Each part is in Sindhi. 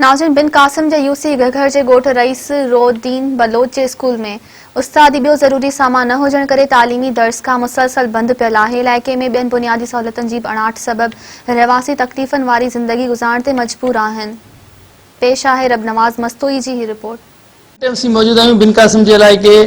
ناظرين بن قاسم جي يوسي گهگهر جي ڳوٺ رئيس رو الدين بلوچ جي اسڪول ۾ استادي ٻيو ضروري سامان نه هجڻ ڪري تعليمي درسگاهه مسلسل بند پيل آهي علائقي ۾ ٻين بنيادي سهولتن جي به اڻاٺ سبب رهواسي تڪليفن واري زندگي گذارڻ تي مجبور آهن پيش آهي ربنواز مستوئي جي هي رپورٽ. ايم سي موجود آهيون بن قاسم جي علائقي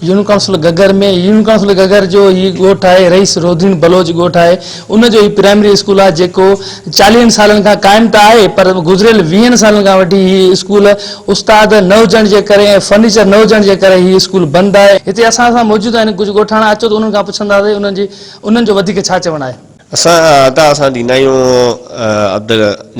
union council Ghaghar ۾ union council Ghaghar جو هي ڳوٺ آهي رئيس رودين بلوچ ڳوٺ آهي ان جو هي پرائمري اسڪول آهي جيڪو چاليهن سالن کان قائم ته آهي پر گذريل ويهن سالن کان وٺي هي اسڪول استاد نه هجڻ جي ڪري ۽ فرنيچر نه هجڻ جي ڪري هي اسڪول بند آهي. هتي اسان سان موجود آهن ڪجهه ڳوٺاڻا اچو ته انهن کان پڇنداسين انهن جي انهن جو وڌيڪ ڇا چوڻ آهي. اسان ادا اسان ڏيندا آهيون عبد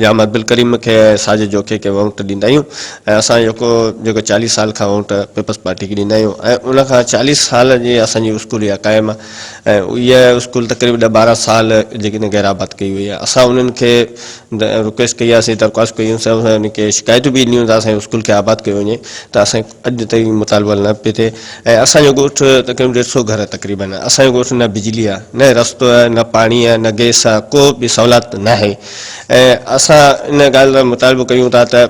جام عبدالڪريم کي ۽ ساجد جوکي کي وونٽ ڏيندا آهيون ۽ اسان جيڪو جيڪو چاليهه سال کان وونٽ پيپلز پارٽي کي ڏيندا آهيون ۽ ان کان چاليهه سال جي اسان جي اسڪول اها قائم آهي ۽ اها اسڪول تقريب ڏهه ٻارهن سال جيڪڏهن غير آباد ڪئي وئي آهي اسان انهن کي رڪويسٽ ڪئي آهي سي درخواست ڪئي آهي سي ان کي شڪايتون به ڏنيون ته اسان جي اسڪول کي آباد ڪيو وڃي ته اسان اڄ تائين مطالبو حل نه پيو ٿئي ۽ اسان جو ڳوٺ تقريبن ڏيڍ سئو گهر تقريبن آهي اسان جو ڳوٺ نه بجلي آهي نه رستو آهي نه پاڻي آهي نه گئس آهي ڪو به سهولات ناهي ۽ اسان ان ڳالهه لاء مطالبو ڪيون ٿا ته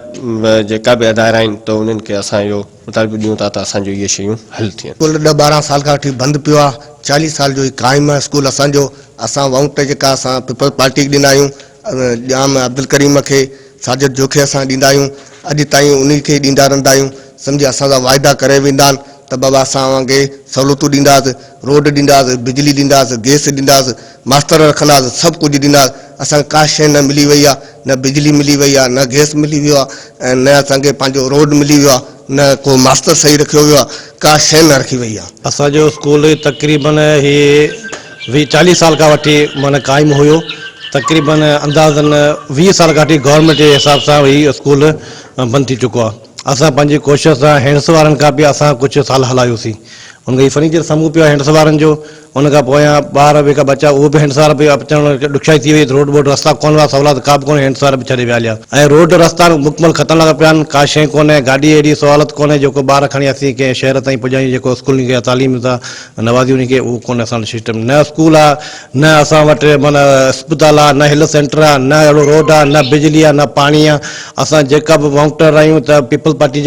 جيڪا به ادارا آهن ته انهن کي اسان اهو مطالبو ڏيون ٿا ته اسان جو اهي شيون حل ٿين. اسڪول ڏهه ٻارهن سال کان وٺي بند پيو آهي چاليهه سال جو هي قائم آهي اسڪول اسان جو اسان وئوٽ جيڪا اسان پيپلز پارٽي کي ڏنا آهيون ڄام عبدالڪريم کي ساجد جوکي اسان ڏيندا آهيون اڄ تائين انهي کي ڏيندا رهندا آهيون سمجهي اسان سان واعدا ڪري ويندا آهن ته بابا اسان اوهان کي سهولتون ڏينداس روڊ ڏينداس بجلي ڏينداس گئس ڏينداس ماستر رکنداس سڀ ڪجهه ڏينداس اسان کي ڪا شئي نه ملي وئي آهي نه بجلي ملي وئي آهي نه گئس ملي ويو آهي ۽ نه اسان کي پنهنجو روڊ ملي ويو آهي نه ڪو ماستر صحيح رکيو ويو آهي، ڪا شيء نه رکي ويئي آهي. اسان جو اسڪول تقريباً هي ويهه چاليهه سال کان وٺي معنيٰ قائم هيو. تقريباً اندازاً ويهه سال کان وٺي گورنمينٽ جي حساب سان هي اسڪول بند ٿي چڪو آهي. اسان پنهنجي ڪوشش سان هينڊس وارن کان به اسان ڪجهه سال هلايوسين. ان کان هي فرنيچر سامهون پيو آهي هينڊس وارن جو. ان کان پويان ٻار به ڪا بچا اهو به هنڊسار به اچڻ ڏکيائي ٿي وئي روڊ ٻوڊ رستا ڪونه هئا سولا ته ڪا به ڪونه هنڊسار به ڇڏي ويا هليا ۽ روڊ رستا به مڪمل ختم لڳا پيا آهن ڪا شيء ڪونه گاڏي اهڙي سهولت ڪونه جيڪو ٻار کڻي اسين ڪنهن شهر تائين پڄايون جيڪو اسڪول انهن کي تعليم سان نوازي انهن کي اهو ڪونه اسان وٽ سسٽم نه اسڪول آ نه اسان وٽ من اسپتال آ نه هيلٿ سينٽر آ نه اهڙو روڊ آ نه بجلي آ نه پاڻي آ اسان جيڪا به ووٽر آهيون ته پيپلز پارٽي جا